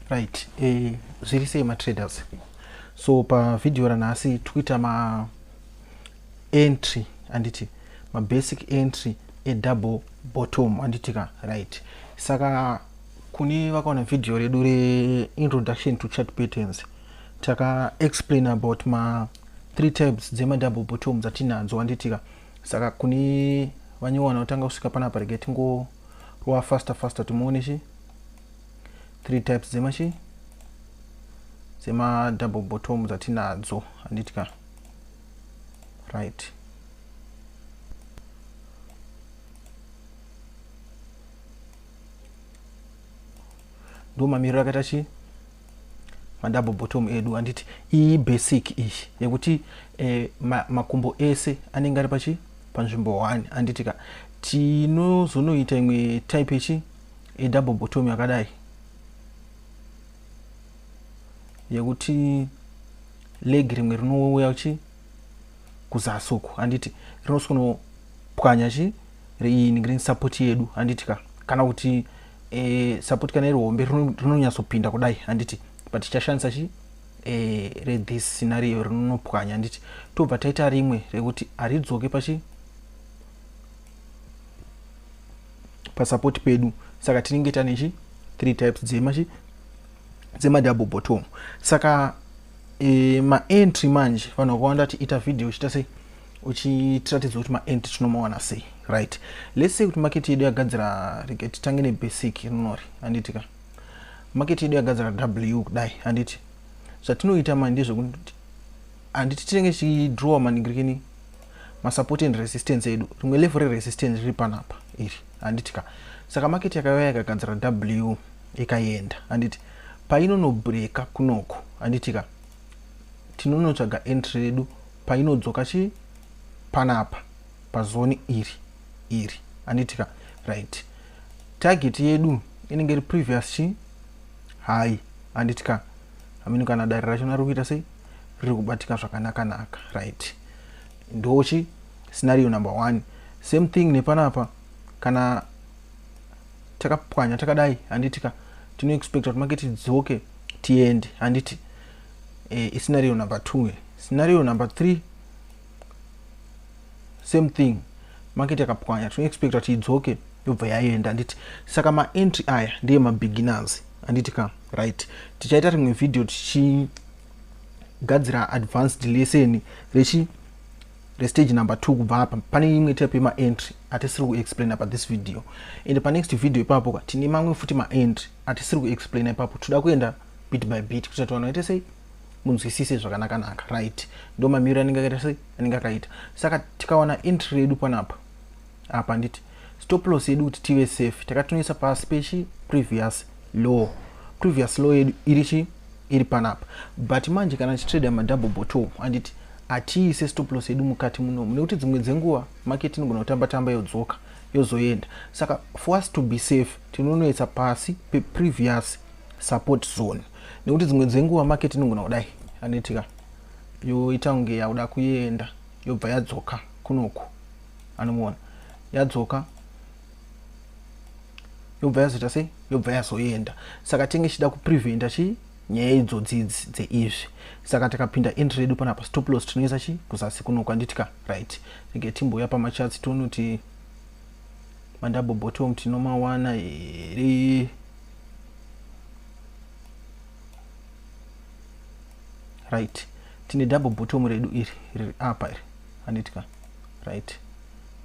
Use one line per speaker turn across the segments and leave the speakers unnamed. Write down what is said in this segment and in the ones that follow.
right eh, zviri sei matraders so pavhidhiyo ranhasi tikuita maentry anditi mabasic entry edouble bottom anditi ka right saka kune vakaona vhidhiyo redu reintroduction to chat patterns takaexplain about ma three types dzemadouble bottom dzatinadzo anditika saka kune vanyuwa vanotanga kusvika panapa rege tingorova faster faster timuone chi three types dzemachi dzemadouble bottom dzatinadzo handiti ka right ndo mamiriro akaita chii madouble bottom edu anditi iyi basic iyi yekuti eh, ma, makumbo ese anenge ari pachi panzvimbo 1 anditi ka tinozonoita imwe type yechi edouble bottom yakadai yekuti leg rimwe rinouya chi kuzasi uku anditi rinosono pwanya chi riini green support yedu handiti ka kana kuti e, support kana iri hombe rinonyatsopinda kudai handiti but tichashandisa chi e, rethis scenario rinonopwanya handiti tobva taita rimwe rekuti haridzoke pachi pasapoti pedu saka tinenge tane chi three types dzema chi dzemadouble bottom saka e, maentry manje vanhu vakawanda tiita vhidhiyo chita sei uchitiratidzwa kuti maend tinomawana sei right let's say kuti market yedu yagadzira rege titange nebasic rinori handiti ka market yedu yagadzira w kudai handiti zvatinoita mani ndezvekuti handiti tinenge tichidrowa maningirikini masupport and resistance edu rimwe level reresistance riri panapa iri handiti ka saka market yakauya yakagadzira w ikaenda handiti painonobreka kunoko handiti ka tinonotsvaga entry redu painodzoka chii panapa pazoni iri iri anditika right target yedu inenge iri previous chii hai anditika amini kana dare racho nari kuita sei riri kubatika zvakanakanaka right ndochi scenario number one same thing nepanapa kana takapwanya takadai handitika tinoexpecta kuti make tidzoke tiende handiti e, iscenario number 2 e. scenario number 3 same thing market yakapwanya tinoexpecta kuti idzoke yobva yaenda handiti saka maentry aya ndeye mabeginners handiti ka right tichaita rimwe vhidhiyo tichigadzira advanced lesson rechi restage number two kubva apa pane imwe type yemaentry atisiri kuexplaina pathis video and panext video ipapo ka tine mamwe futi maentry atisiri kuexplaina ipapo toda kuenda bit by bit kuitira kuti vanhu vaite sei munzwisise zvakanakanaka right ndo mamiriro anenge akaita sei anenge akaita saka tikawana entry yedu panapa apa handiti stop loss yedu kuti tive safe takatonoisa pasi pechi previous law previous law yedu iri chi iri panapa but manje kana tichitrader madouble bottom handiti hatiise stop loss yedu mukati munomu nekuti dzimwe dzenguva market inogona kutamba tamba yodzoka yozoenda saka for us to be safe tinonoisa pasi peprevious support zone nekuti dzimwe dzenguva market inongona kudai anoitika yoita kunge yakuda kuenda yobva yadzoka kunoku anomuona yadzoka yobva yazoita sei yobva yazoenda saka tinge chida kupreventa chii nyaya idzodzi idzi dzeizvi saka takapinda entry yedu panapa stop loss tinoisa chii kuzasi kuno kwanditika right rege timbouya pamachatsi tonoti mandouble bottom tinomawana here right tine double bottom redu iri riri apa iri handitika right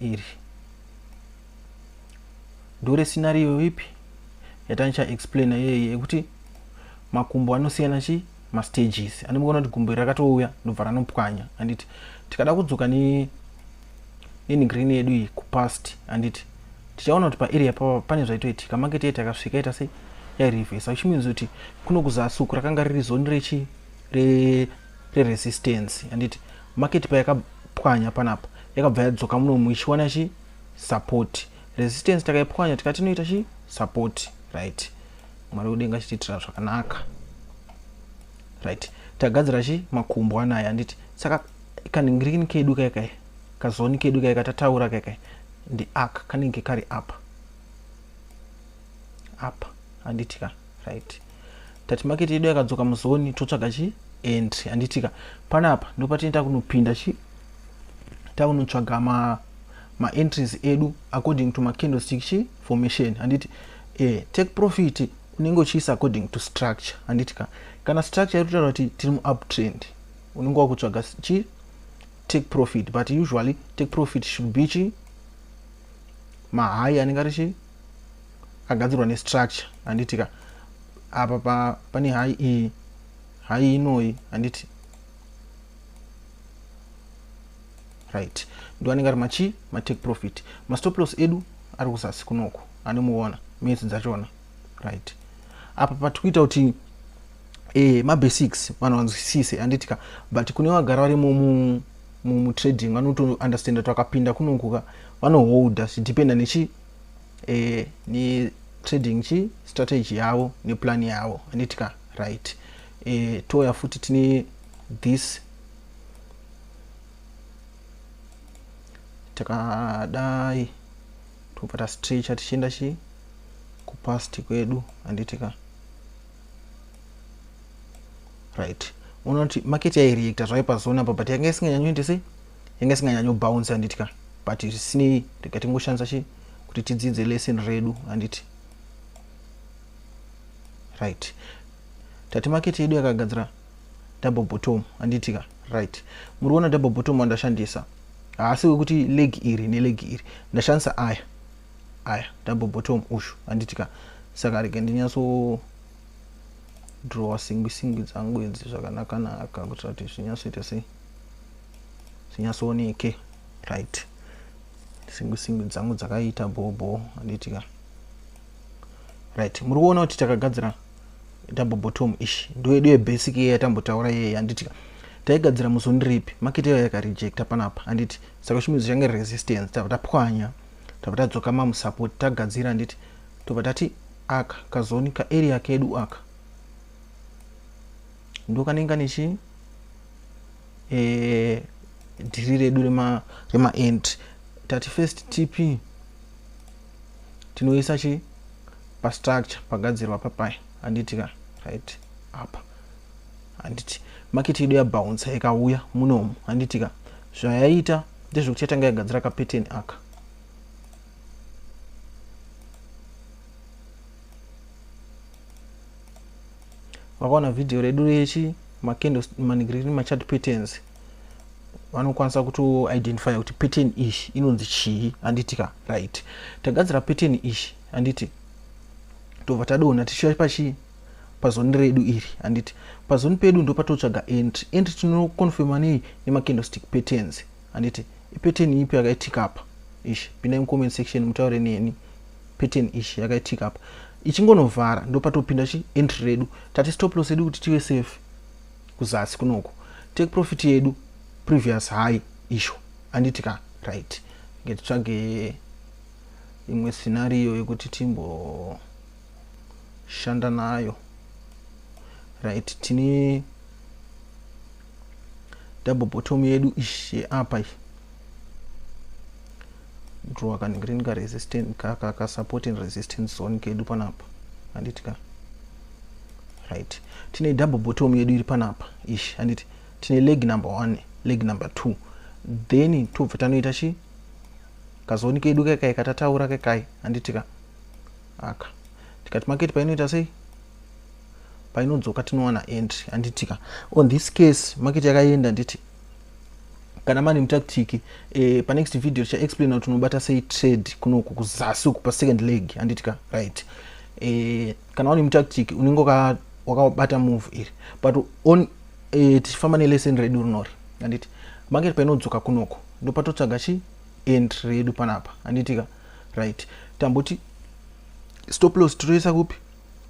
iri ndore scenario ipi yatanicha explaina yeye yekuti makumbo anosiyana chii mastages ane mukaona kuti gumbo iri rakatouya ndobva ranopwanya handiti tikada kudzoka ne nenigrin yedu iyi kupast handiti tichaona kuti paarea pava pane zvaitoitika maketi yaiti akasvika ita sei yairivhesa which means kuti kuno kuzasi uku rakanga riri zoni rechi reresistance re handiti maketi payakapwanya panapa yakabva yadzoka muno muichiwana chi support resistance takaipwanya tikati inoita chi support right mwari wedenga achitiitira zvakanaka right tagadzira chi makumbo anaya handiti saka kaningirikini kedu kai kai kazoni kedu kai katataura kai kai ndi ak kanenge kari apa apa handiti ka right tati maketi yedu yakadzoka muzoni totsvaga chi entry handiti ka panapa ndopatinoita kunopinda chi takunotsvaga ma maentries edu according to macandlestick chi formation handiti eh, take profit unenge uchiisa according to structure handiti ka kana structure iri kutaura kuti tiri muuptrend unenge wakutsvaga chi take profit but usually take profit should be chi mahai anenge ari chi agadzirwa nestructure handiti ka apa pa, pane hai iyi hai inoi handiti right ndoanenge ari machi matake profit mastop loss edu ari kuzasi kunoko anomuona minutes dzachona right apa pati kuita kuti eh, mabasics vanhu vanzwisise handitika but kune vagara vari mutrading vanotounderstanda twakapinda kunokuka vanoholda zvidependa nechi eh, netrading chi strategy yavo neplan yavo handitika right eh, touya futi tine this takadai tobva tastrecha tichienda chii kupast kwedu handiti ka right unoti market yaireacta zvave pazone apa but yanga isinganyanyoite sei yanga isinganyanyobounce handiti ka but zvisinei rega tingoshandisa chii kuti tidzidze lesson redu handiti right tati market yedu yakagadzira double bottom handiti ka right muri kuona double bottom wandashandisa haasi wekuti leg iri neleg iri ndashandisa aya aya double bottom ushu handiti ka saka rege ndinyatso drawa singwi singwi dzangu idzi zvakanakanaka kuitira kuti zvinyatsoita sei zvinyatsooneke right singwi singwi dzangu dzakaita bhobho handiti ka right muri kuona kuti takagadzira double bottom ish ndoedu yebasic iye yatambotaura iye handiti ka taigadzira muzoni ripi market yayo yakarejecta panapa handiti saka shumidzo change resistance tava tapwanya tava tadzoka mamusupport tagadzira handiti tobva tati aka kazoni kaarea kedu aka ndokanenga nechi eh, dhiri redu remaend tati first tp tinoisa chi pastructure pagadzirwa papai handiti ka right apa handiti maketi yedu yabouncer ikauya munomu handiti ka zvayaita ndezvekuti yatanga yagadzira kapeteni aka vakaona vhidhiyo redu rechi macandles manigreen machart patterns vanokwanisa kutoidentifya kuti pattern ish inonzi chii handiti ka right tagadzira pattern ish handiti tobva tadona tichiuya pachii pazoni redu iri handiti pazoni pedu ndopatotsvaga entry entry tinoconfirma nei nemacandlestick patterns handiti ipattern ipi yakaitika apa ish pindai mucomment section mutaure neni pattern ish yakaitika apa ichingonovhara ndopatopinda chi entry redu tati stop loss edu kuti tive safe kuzasi kunoku take profit yedu previous high isho anditi ka right ngetitsvage imwe scenario yekuti timbo shanda nayo right tine double bottom yedu ish yeapa iyi draw kanenge rini karesistant kaka ka support and resistance zone kedu panapa handiti ka right tine double bottom yedu iri panapa ish handiti tine leg number one leg number two then tobva tanoita chi kazoni kedu kekai katataura kekai handitika aka tikati market painoita sei painodzoka tinowana entry handitika on this case market yakaenda nditi kana mani mutactic eh, panext video tichaexplain kuti unobata sei trade kunoku kuzasi uku pasecond leg handitika right eh, kana uri mutactic unenge wakabata move iri but on eh, tichifamba nelesson redu rinori anditi market painodzoka kunoko ndopatotsvaga chi entry redu panapa anditika right tamboti stop loss tinoisa kupi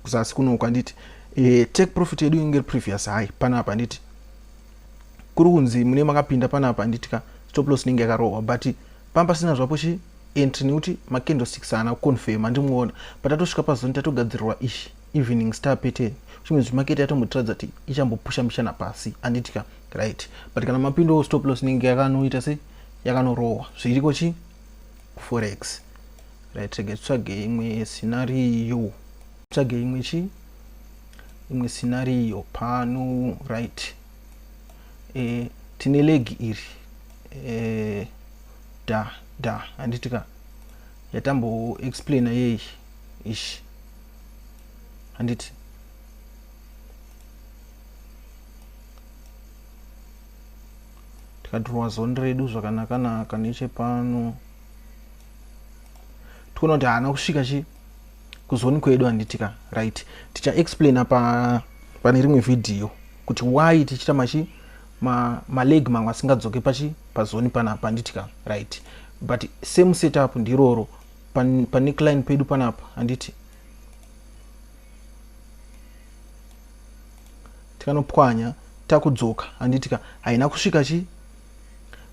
kuzasi kunoko handiti e, eh, take profit yedu inge previous high panapa handiti kuri kunzi mune makapinda panapa handiti ka stop loss inenge yakarohwa but pamba sina zvapo chi entry nekuti macandlesticks haana kuconfirma ndimuona but atosvika pazoni tatogadzirirwa ishi evening star pattern chimwe zvimakete yatombotiradza kuti ichambopusha mishana pasi anditi ka right but kana mapindowo stop loss inenge yakanoita se yakanorohwa zviriko chi kuforex right rega titsvage imwe scenario tsvage imwe chi imwe scenario pano right e, tine legi iri e, da da handiti ka yatambo explaina yei ish handiti tikadhirowa zoni redu zvakanakanaka nechepano tikuona kuti haana kusvika chi kuzoni kwedu handitika right tichaexplaina pa, pane rimwe vhidhiyo kuti why tichita machi ma maleg mamwe asingadzoke pachi pazoni panapa handiti ka right but same setup ndiroro pane pan client pedu panapa handiti tikanopwanya takudzoka handiti ka haina kusvika chi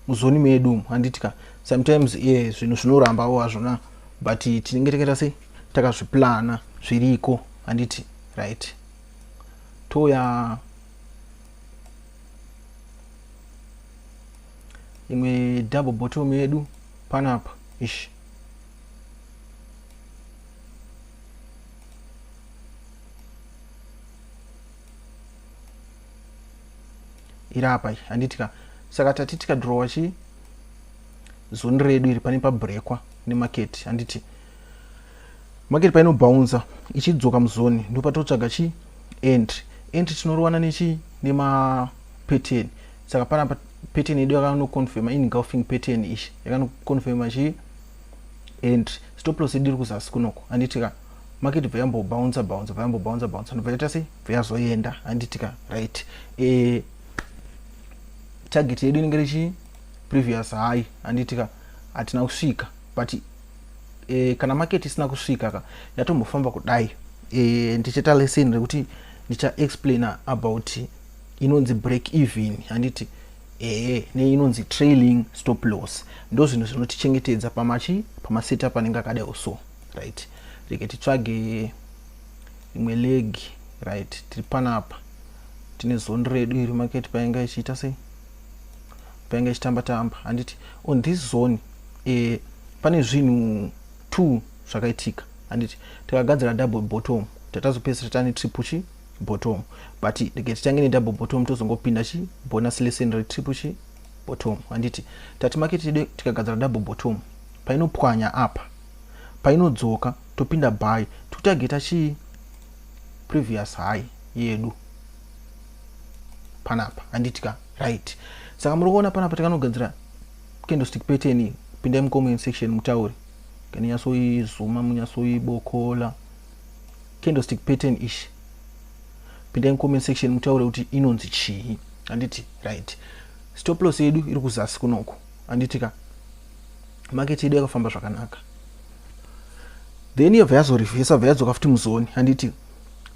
muzoni medu umu handiti ka sometimes ye yeah, zvinhu zvinorambawo hazvona but tinenge takaita sei takazviplana zviriko handiti right toya imwe double bottom yedu panapa ish iri apa iyi handitika saka tati tikadhirowa chii zoni redu iri pane pabrekwa nemaketi handiti market painobhaunza ichidzoka muzoni ndopatotsvaga chi entry entry tinorovana nechi nemapattern saka panapa pattern yedu yakanoconfirma ingulfing pattern ichi yakanoconfirma chi entry stop loss yedu iri kuzasi kunoko anditika market bva yambobhaunza bhaunza bva yambobhaunza bhaunza ndobva yaita sei bva yazoenda anditika right e, target yedu inenge richii previous high anditika hatina kusvika but e, kana market isina kusvika ka yatombofamba kudai e, ndichaita lesson rekuti ndichaexplaina about inonzi break even handiti ee neinonzi trailing stop loss ndo zvinhu zvinotichengetedza pamachi pamaseta panenge akadai so right reke titsvage imwe legi right tiri panapa tine zoni redu iri maketi painga ichiita sei painge ichitamba tamba handiti on this zone eh, pane zvinhu two zvakaitika handiti takagadzira double bottom tatazopedzisira tane triple chi bottom but rege titange nedouble bottom tozongopinda chi bonus lesson retriple chi bottom handiti tati market yedu tikagadzira double bottom painopwanya apa painodzoka topinda by totageta chii previous high yedu panapa handiti ka right saka muri kuona panapa takanogadzira candlestick pattern iyi pindai mucomment section mutaure kana nyatsoizuma munyatsoibokola candlestick pattern ishi pindai mucomment section mutaure kuti inonzi chii handiti right stop loss yedu iri kuzasi kunoko handiti ka market yedu yakafamba zvakanaka then yobva yazorevhesa bva yadzoka futi muzoni handiti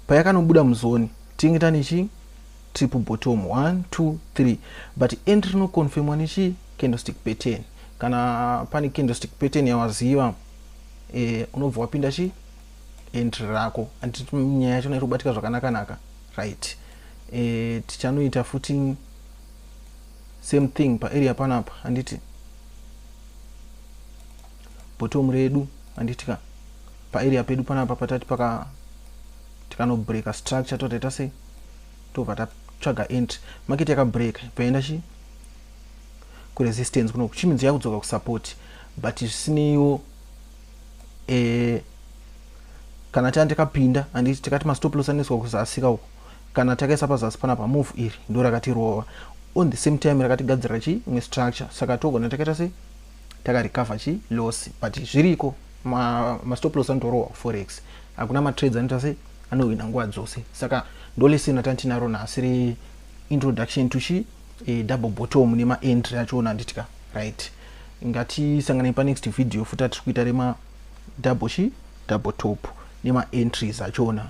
payakanobuda muzoni tinge tane chii triple bottom 1 2 3 but end rinoconfirmwa nechii candlestick pattern kana pane candlestick pattern yawaziva eh, unobva wapinda chii entry rako anditi nyaya yacho nairi kubatika zvakanakanaka right eh, tichanoita futi same thing paarea panapa anditi bottom redu anditika paarea pedu panapa patati paka tikanobreaka structure totaita sei tobva tatsvaga entry market yakabreaka paenda chi kuresistance kuno kuchimidzi yakudzoka kusupport but zvisineiwo eh, kana tanga takapinda andi tikati mastop loss anoiswa kuzasika uko kana takaisa pazasi panapa move iri ndo rakatirova on the same time rakatigadzira chi imwe structure saka togona takaita sei takarecover chi loss but zviriko mastop loss anotorohwa kuforex hakuna matrades anoita se anohwina nguva dzose saka ndolesina tantinaro nhasi re introduction to chi e, double bottom nemaentry achoona nditika right ngatisanganei panext video futa tiri kuita rema double chi double top nemaentries achoona